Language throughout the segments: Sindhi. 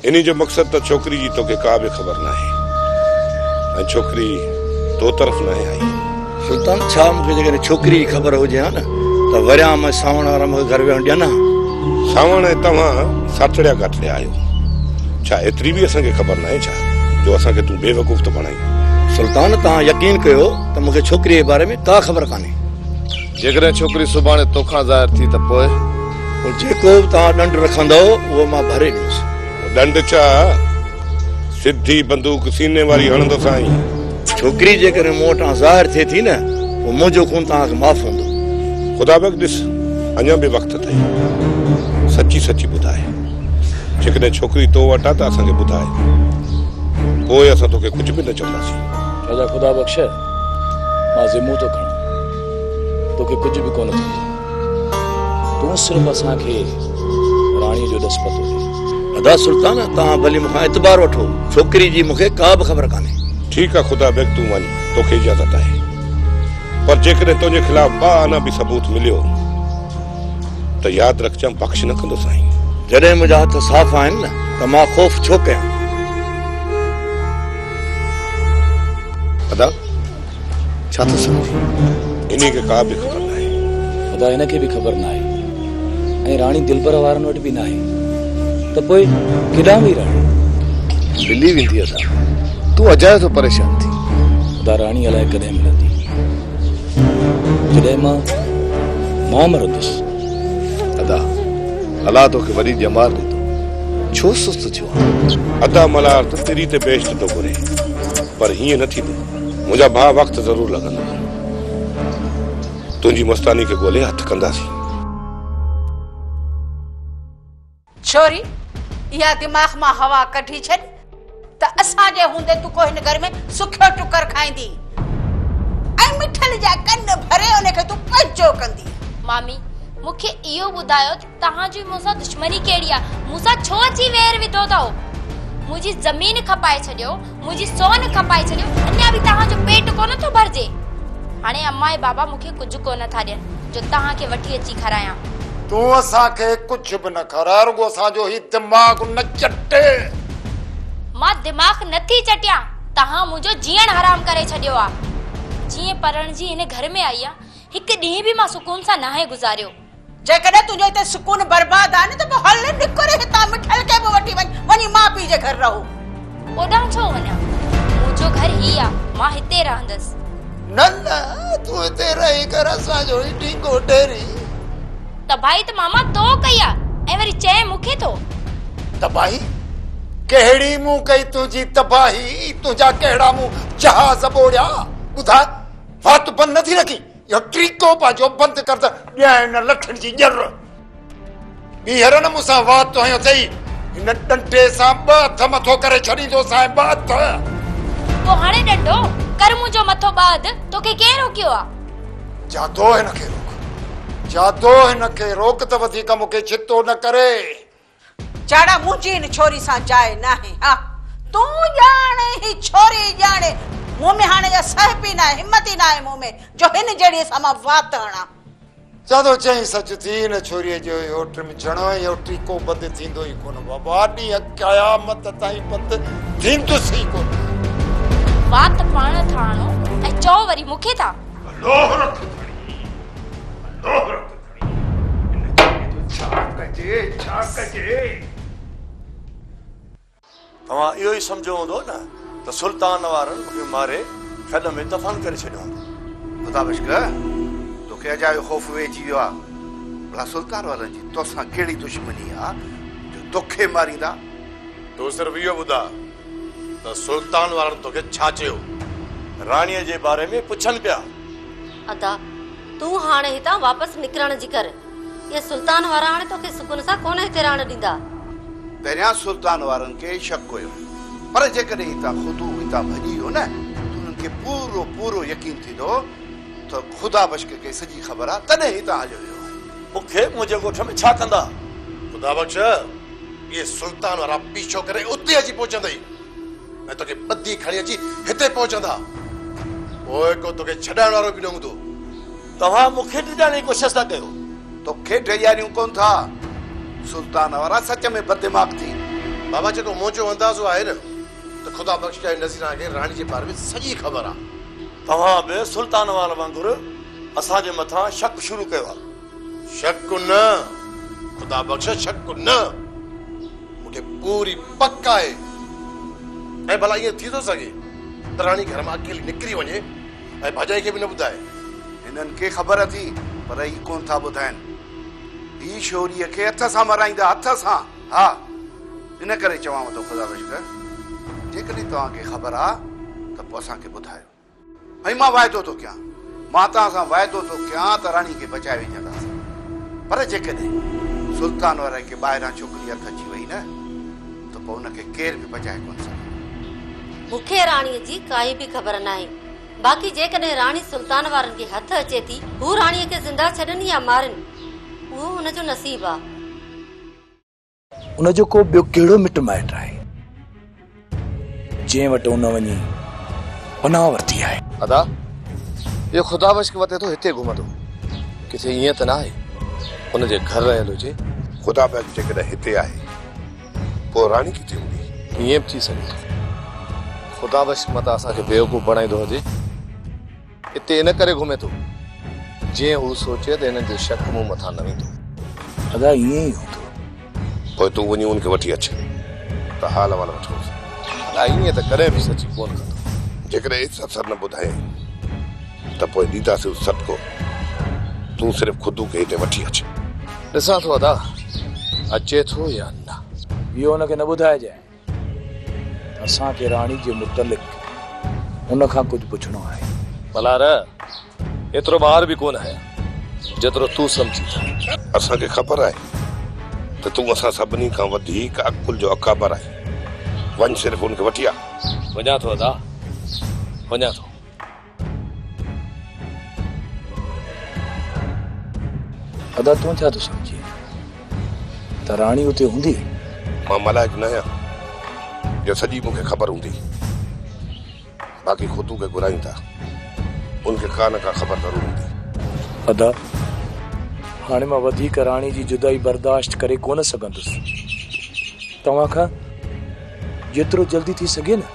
انهي جو مقصد ته ڇوڪري جي توکي ڪا به خبر ناهي ۽ ڇوڪري تو طرف ناهي آئي. سلطان، ڇا مون کي جيڪڏهن ڇوڪري جي خبر هجي ها نه ته وريان ۾ سانوڻ وارا مون کي گهر ويهڻ ڏين ها؟ سانوڻ، ۽ توهان ساٺڙيا گاٺڙيا آهيو، ڇا ايتري به اسان کي خبر ناهي ڇا جو اسان کي تون بيوقوف ٿو بڻائين؟ سلطان، توهان يقين ڪيو ته مون کي ڇوڪريء جي باري ۾ ڪا خبر ڪانهي. جيڪڏهن ڇوڪري سڀاڻي توکان ظاهر ٿي ته پوء؟ پوء جيڪو به توهان ڏنڊ رکندؤ، اهو مان ڀري ڏيندس. ڏنڊ ڇا؟ سڌي بندوق سيني واري هڻندس آئين. ڇوڪري جيڪڏهن مون وٽان ظاهر ٿئي ٿي نه، پوء منهنجو خون توهان کي معاف هوندو. خدا بيگ ڏس، اڃا به وقت اٿئي. سچي سچي ٻڌاء. جيڪڏهن ڇوڪري تو وٽ آ ته اسان کي ٻڌاء. پوء اسان توکي ڪجهه به نه چونداسين. راجا خدا بخش! مان ذمو ٿو کڻان توکي ڪجهه به ڪونه ٿيندو تون صرف اسان کي راڻي جو ڏس پتو ڏي ادا سلطان توهان ڀلي مونکان اعتبار وٺو ڇوڪري جي مونکي ڪا به خبر ڪانهي ٺيڪ آ خدا بيگ تون وڃ توکي اجازت آهي پر جيڪڏهن تنهنجي خلاف ٻه آنا به ثبوت مليو ته ياد رکجان بخش نه ڪندو سائين جڏهن منهنجا هٿ صاف آهن نه ته مان خوف ڇو ڪيان ادا ڇا ٿو سمجهين؟ هن کي ڪا به خبر ناهي. ادا هن کي به خبر ناهي ۽ راڻي دلبر وارن وٽ به ناهي ته پوء ڪيڏانهن وئي راڻي؟ ملي ويندي ادا تون اجايو ٿو پريشان ٿين. ادا راڻي الائي ڪڏهن ملندي جڏهن مان مان مرندس. ادا الله توکي وڏي ڄمار ڏنو ڇو سست ٿيو ادا ملهار ته تري تي بيشت ٿو گهري پر هيئن نه ٿيندو منهنجا ڀاء وقت ضرور لڳندو تنهنجي مستاني کي ڳولي هٿ ڪنداسين. ڇوري اها دماغ مان هوا ڪڍي ڇڏ ته اسان جي هوندي تون ڪو هن گهر ۾ سکيو ٽڪر کائيندي ۽ مٺل جا ڪن ڀري ان کي تون پنهنجو ڪندي. مامي مون کي اهو ٻڌايو ته توهان جي مون سان دشمني ڪهڙي آ مون سان ڇو اچي وير وڌو ٿئو منهنجي زمين کپائي ڇڏيو منهنجي سون کپائي ڇڏيو اڃا به توهان جو پيٽ ڪونه ٿو ڀرجي هاڻي اما ۽ بابا مون کي ڪجهه ڪونه ٿا ڏين جو توهان کي وٺي اچي کارايان تون اسان کي ڪجهه به نه کارائي رڳو اسان جو هي دماغ نه چٽي مان دماغ نه ٿي چٽيان توهان منهنجو جيئڻ حرام ڪري ڇڏيو آ جيئن پرڻجي هن گهر ۾ آئي آ هڪ ڏينهن به مان سڪون سان ناهي گذاريو جيڪڏهن تنهنجو هتي سڪون برباد آهي نه ته پوء هل نڪر هتان مٺل کي به وٺي وڃ وڃي ماء پيء جي گهر رهو. اوڏانهن ڇو وڃان؟ منهنجو گهر هي آ مان هتي رهندس. نه نه تون هتي رهي ڪر اسان جو هي ڍينگو ڍيري. تباهي ته ماما تو ڪئي آ ۽ وري چئين مون کي ٿو. تباهي ڪهڙي مون ڪئي تنهنجي تباهي تنهنجا ڪهڙا مون جهاز ٻوڙيا ٻڌاء وات بند نه ٿي رکين. اهو طريقو پنهنجو بند ڪر ته ڏيانء هن لٺن جي ڄر. ٻيهر نه مون سان وات تو هنيو اٿئي، هن ڏنڊي سان ٻه هٿ مٿو ڪري ڇڏيندوسانء ٻه هٿ. تو هاڻي ڏنڊو ڪر منهنجو مٿو ٻه هٿ، توکي ڪنهن روڪيو آ؟ جادو هن کي روڪ، جادو هن کي روڪ ته وڌيڪ مون کي ڇتو نه ڪري. جاڙا منهنجي هن ڇوري سان جاء ناهي ها تون ڄاڻ هي ڇوري ڄاڻي مون ۾ هاڻي اها سهپ ئي ناهي همت ئي ناهي مون ۾ جو هن جهڙيء سان مان وات هڻان. جادو چيائين سچ ٿي هن ڇوريء جو اهو ٽم جهڻو ۽ اهو ٽيڪو بند ٿيندو ئي ڪونه بابا ڏينهن قيامت تائين بند ٿيندس ئي ڪونه. وات پاڻ ٿا هڻو ۽ چئو وري مون کي ٿا. لوهه رک کڻي لوهه رک. هن چيلي جو ڇا ڪجي، ڇا ڪجي؟ توهان اهو ئي سمجهيو هوندو نه ته سلطان وارن مون کي ماري کڏ ۾ دفن ڪري ڇڏيو هوندو. خدا بشڪ توکي اجايو خوف ويهجي ويو آهي. ڀلا سلطان وارن جي توسان ڪهڙي دشمني آهي جو توکي ماريندا؟ تون صرف اهو ٻڌاء ته سلطان وارن توکي ڇا چيو؟ راڻيء جي باري ۾ پڇن پيا. ادا! تون هاڻ هتان واپس نڪرڻ جي ڪر. اهي سلطان وارا هاڻي توکي سڪون سان ڪونه هتي رهڻ ڏيندا. پهريان سلطان وارن کي شڪ هيو، پر جيڪڏهن هتان خودو هتان ڀڄي ويو نه ته انهن کي پورو پورو يقين ٿيندو ته خدا بخش کي سڄي خبر آهي تڏهن هتان هليو ويو آهي. مون کي منهنجي ڳوٺ ۾ ڇا ڪندا؟ خدا بخش! اهي سلطان وارا پيڇو ڪري اتي اچي پهچندئي. ۽ توکي ٻڌي کڻي اچي هتي پهچندا. پوء ڪو توکي ڇڏائڻ وارو به نه هوندو. توهان مون کي ڊڄائڻ جي ڪوشش ٿا ڪيو. توکي ڊڄاريون ڪونه ٿا. سلطان وارا سچ ۾ بددماغ ٿي. بابا جيڪو منهنجو اندازو آهي نه ته خدا بخش جي نظيران کي راڻي جي باري ۾ سڄي خبر آهي. توهان به سلطان وارن وانگر اسان جي مٿان شڪ شروع ڪيو آهي. شڪ نه خدا بخش شڪ نه مون کي پوري پڪ آهي ۽ ڀلا ائين ٿي ٿو سگهي دراڻي گهر مان اڪيلي نڪري وڃي ۽ ڀاڄائي کي به نه ٻڌائي. هنن کي خبر اٿي پر هي ڪونه ٿا ٻڌائين. هي شوريء کي هٿ سان مرائيندا، هٿ سان. ها ان ڪري چوانو ٿو خدا بخش جيڪڏهن توهان کي خبر آ ته پوء اسان کي ٻڌايو. ۽ مان واعدو ٿو ڪيان، مان توهان سان واعدو ٿو ڪيان ته راڻي کي بچائي وجهنداسين، پر جيڪڏهن سلطان وارائي کي ٻاهران ڇوڪري هٿ اچي وئي نه ته پوء ان کي ڪير به بچائي ڪونه سگهندو. مون کي راڻي جي ڪائي به خبر ناهي، باقي جيڪڏهن راڻي سلطان وارن جي هٿ اچي ٿي، هو راڻي کي زنده ڇڏن يا مارين، اهو هن جو نصيب آ. ان جو ڪو ٻيو ڪهڙو مٽ مائٽ آهي، جنهن وٽ ان وڃي پناهه ورتي آهي؟ ادا، اهو خدا بخش ڪي وتي ٿو هتي گهمندو، ڪٿي ائين ته ناهي، ان جي گهر رهيل هجي؟ خدا بخش جيڪڏهن هتي آهي، پوء راڻي ڪٿي هوندي؟ ائين به ٿي سگهي ٿو، خدا بخش متان اسان کي بيوقوف بڻائيندو هجي. اتي ان ڪري گهمي ٿو جيئن هو سوچي ته هنن جو شڪ مون مٿان نه ويندو. ادا ائين ئي هوندو. پوء تون وڃي ان کي وٺي اچ ته حال احوال وٺوس. ادا ائين ته ڪڏهن به سچي ڪونه ڪندو. جيڪڏهن ايس اثر نه ٻڌائين ته پوء ڏينداسينس سڏڪو. تون صرف خدو کي هتي وٺي اچ. ڏسان ٿو ادا اچي ٿو يا نه. اهو ان کي نه ٻڌائجانء. اسان کي راڻي جي متعلق ان کان ڪجهه پڇڻو آهي. ملهار، ايترو ٻاهر به ڪونه آهيان، جيترو تون سمجهين ٿو. اسان کي خبر آهي ته تون اسان سڀني کان وڌيڪ عقل جو اڪابر آهين. وڃ صرف ان کي وٺي آ. وڃان ٿو ادا، وڃان ٿو. ادا تون ڇا ٿو سمجهين ته راڻي اتي هوندي؟ مان ملائڪ نه آهيان جو سڄي مون کي خبر هوندي. باقي خطو کي گهرائين ٿا ان کي ڪا نه ڪا خبر ضرور هوندي. ادا هاڻي مان وڌيڪ راڻي جي جدائي برداشت ڪري ڪونه سگهندس. توهان کان جيترو جلدي ٿي سگهي نه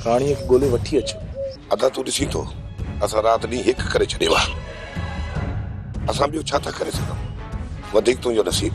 راڻيء کي ڳولي وٺي اچ. ادا تون ڏسين ٿو اسان رات ڏينهن هڪ ڪري ڇڏيو آ اسان ٻيو ڇا ٿا ڪري سگهون وڌيڪ تنهنجو نصيب.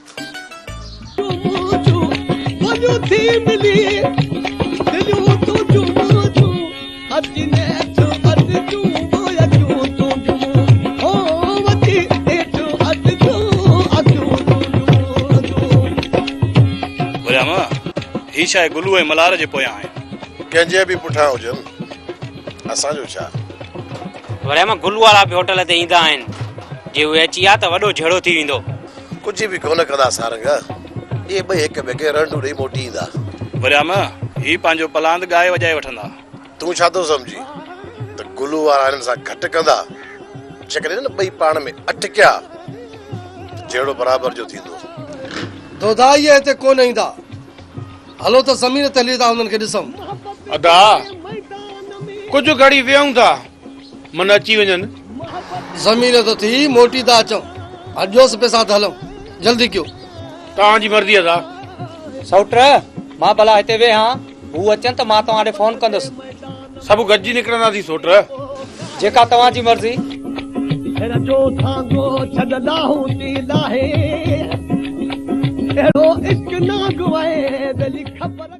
هي شاهه گلو ۽ ملهار جي پويان آهن ڪنهن جي به پٺيان هجن اسان جو ڇا وري مان گلو وارا به هوٽل تي ايندا آهن جي اهي اچي ويا ته وڏو جهيڙو ٿي ويندو ڪجهه به ڪونه ڪندا سارنگ. اهي ٻئي هڪ ٻئي کي رنڊون ڏئي موٽي ايندا. وريام، هي پنهنجو پلاند ڳائي وڄائي وٺندا. تون ڇا ٿو سمجهين ته گلو وارا هنن سان گهٽ ڪندا؟ جيڪڏهن هنن ٻئي پاڻ ۾ اٽڪيا ته جهيڙو برابر جو ٿيندو. دوداء اهي هتي ڪونه ايندا. هلو ته زمين تي هلي ٿا هنن کي ڏسون. ادا، ڪجهه گهڙي ويهون ٿا. من اچي وڃن. زمين تي ٿي موٽي ٿا اچون. اڏيوس پئي ساٿ هلون. جلدي ڪيو. توهان جي مرضي ادا. سئوٽ، مان ڀلا هتي ويهان. هو اچن ته مان توهان ڏي فون ڪندس. سڀ گڏجي نڪرنداسين سئوٽ. جيڪا توهان جي مرضي. هير جو سانگو ڇڏ لاهون ٿي لاهي. اهڙو عشق ناگ وهي ٻيلي خبر.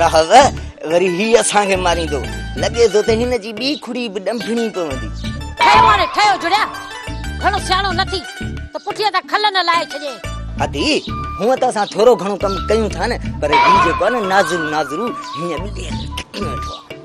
راهب وري هي اسان کي ماريندو لڳي ٿو ته هن جي ٻي کڙي به ڏنڀڻي پوندي. ٺهيو هاڻي ٺهيو جڙيا گهڻو سياڻو نه ٿي ته پٺيء تان کل نه لاهي ڇڏيئي. ادي هونء ته اسان ٿورو گهڻو ڪم ڪيون ٿا نه پر هي جيڪو آهي نه نازرو نازرو هينئن به ڏيهه کي ڪٽي ويٺو آهي.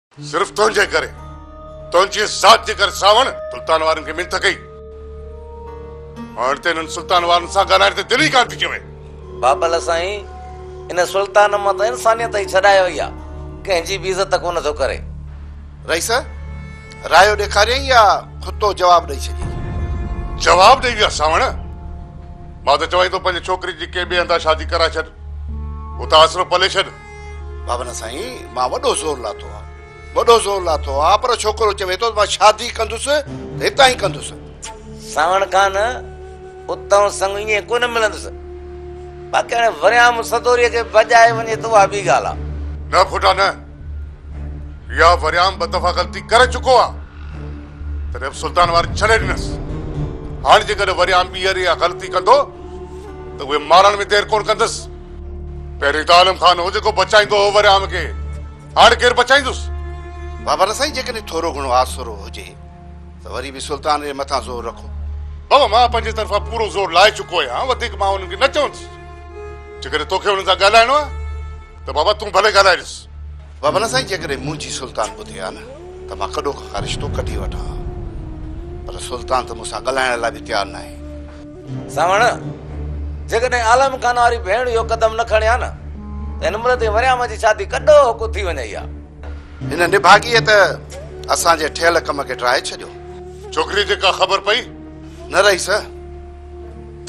صرف تنهنجي ڪري، تنهنجي ذات جي ڪري ساوڻ سلطان وارن کي منٿ ڪئي. هاڻ ته هنن سلطان وارن سان ڳالهائڻ تي دل ئي ڪانه ٿي چوي. بابل سائين ان سلطان مان ته انسانيت ئي ڇڏائي وئي آ، ڪنهن جي به عزت ڪونه ٿو ڪري. رئيس رايو ڏيکاريائين يا ڪتو جواب ڏئي ڇڏيائين؟ جواب ڏئي ويا ساوڻ، مان ته چوائين ٿو پنهنجي ڇوڪري جي ڪنهن ٻئي هندا شادي ڪرائي ڇڏ، اتان آسرو پلي ڇڏ. بابا نه سائين مان وڏو زور لاٿو آ وڏو زور لاٿو آ پر ڇوڪرو چوي ٿو مان شادي ڪندس ته هتان ئي ڪندس ساوڻ خان اتان سڱ ائين ڪونه ملندس باقي هاڻي وريام سدوري کي بجائي وڃي ته اها ٻي ڳالهه آ نه کوٽا نه يا وريام ٻه دفعا غلطي ڪري چڪو آ تڏهن به سلطان وار ڇڏي ڏنس هاڻي جيڪڏهن وريام ٻيهر اها غلطي ڪندو ته اهي مارڻ ۾ دير ڪونه ڪندس پهرين ته عالم خان هو جيڪو بچائيندو هو وريام کي، هاڻ ڪير بچائيندس؟ بابا نه سائين جيڪڏهن ٿورو گهڻو آسرو هجي ته وري به سلطان جي مٿان زور رکو. بابا مان پنهنجي طرفان پورو زور لائي چڪو آهيان، وڌيڪ مان انهن کي نه چوندس. جيڪڏهن توکي انهن سان ڳالهائڻو آهي ته بابا تون ڀلي ڳالهائي ڏس. بابا نه سائين جيڪڏهن منهنجي سلطان ٻڌي ها نه ته مان ڪڏو کان ڪا رشتو ڪڍي وٺان ها، پر سلطان ته مون سان ڳالهائڻ لاء به تيار ناهي. ساوڻ، جيڪڏهن عالم خان واري ڀيڻ اهو قدم نه کڻي ها نه ته هن مرد ۽ مريام جي شادي ڪڏو هوڪو ٿي وڃئي ها. هن نڀاڳيء ته اسان جي ٺهيل ڪم کي ٽرائي ڇڏيو. ڇوڪريء کي ڪا خبر پئي؟ نه رئيس،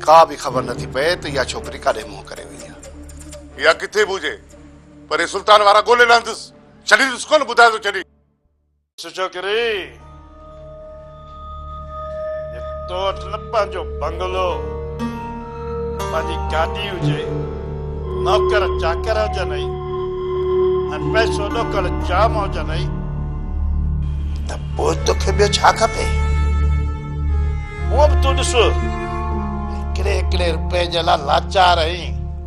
ڪا به خبر نه ٿي پئي ته اها ڇوڪري ڪاڏي منهن ڪري وئي آهي. اها ڪٿي به هجي، پري سلطان وارا ڳولي لهندس. ڇڏيندس ڪونه، ٻڌايو ته ڇڏي. سچو ڪري تو وٽ نه پنهنجو بنگلو پنهنجي گاڏي هجي نوڪر چاڪر هجن اي ۽ پئسو ڏوڪڙ جام هجن اي ته پوء توکي ٻيو ڇا کپي هو به تون ڏس هڪڙي هڪڙي روپئي جي لاء لاچار اهين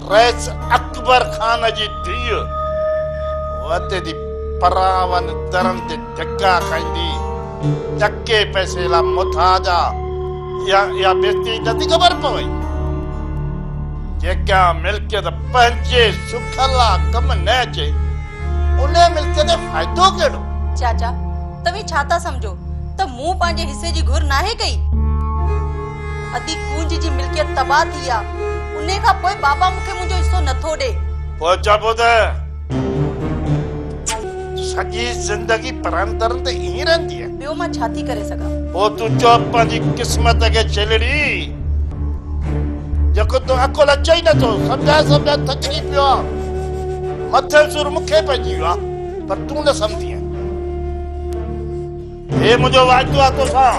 رئيس اڪبر خان جي ڌيء وتي جي پراون درن تي ڌڪا کائيندي چڪي پئسي لا مٿاڄا يا يا بيچتي نٿي خبر پوي جيڪا ملڪيت پنهنجي سک لا ڪم نه اچي ان ملڪيت تي فائدو ڪهڙو چاچا توهين ڇا ٿا سمجهو ته مون پنهنجي حصي جي گهر ناهي ڪئي ادي ڪونج جي ملڪيت تباهه ٿي آ انهي کان پوء بابا مون کي منهنجو حصو نه ٿو ڏي. پوء چئبو ته سڄي زندگي پرائن درن تي ائين رهندينء. ٻيو مان ڇا ٿي ڪري سگهان. پوء تون چئو پنهنجي قسمت کي ڇيلڙي جيڪو تو عقل اچي ئي نه ٿو سمجهائي سمجهائي ٿڪجي پيو آ مٿي سور مون کي پئجي ويو آ پر تون نه سمجهندينء. هي منهنجو وعدو آ توسان.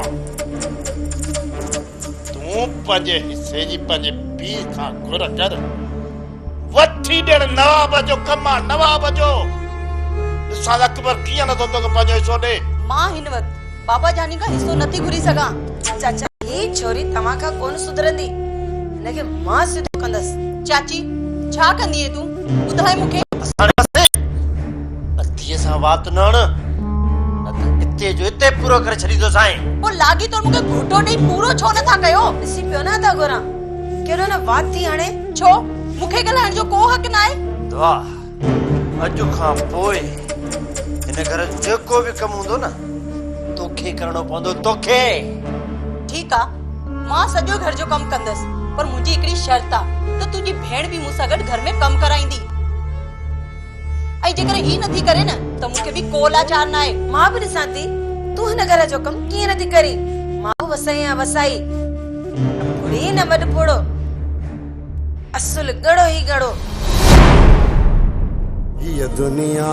تون پنهنجي حصي جي پنهنجي پيء کان گهر ڪر. وٺي ڏيڻ نواب جو ڪم آ، نواب جو. ڏسان اڪبر ڪيئن نٿو توکي پنهنجو حصو ڏي. مان هن وقت بابا جاني کان حصو نٿي گهري سگهان. چاچا هي ڇوري توهان کان ڪونه سڌرندي. هن کي مان سڌو ڪندس. چاچي ڇا ڪندينء تون ٻڌاء مون کي. اسان رهياسين. اديء سان وات نه اڻ، نه ته اتي جو اتي پورو ڪري ڇڏيندوسانء. پوء لاڳي تون مون کي گهوٽو ڏيئي پورو ڇو نه ٿا ڪيو؟ ڏسي پيو نه ٿا گهران، ڪيڏو نه وات ٿي هڻي. ڇو؟ مون کي ڳالهائڻ جو ڪو حق ناهي؟ دعا، اڄ کان پوء هن گهر جو جيڪو به ڪم هوندو نه، توکي ڪرڻو پوندو، توکي! ٺيڪ آ، مان سڄو گهر جو ڪم ڪندس، پر منهنجي هڪڙي شرط آ ته تنهنجي ڀيڻ به مون سان گڏ گهر ۾ ڪم ڪرائيندي. ۽ جيڪڏهن هي نٿي ڪري نه ته مون کي به ڪو لاچار ناهي. مان به ڏسان ٿي تون هن گهر جو ڪم ڪيئن نٿي ڪرين. مان به وسائي آهيان وسائي. نه ڦڙي نه وڏ ڦڙو. اصل ڳڙو ئي ڳڙو. هيء دنيا.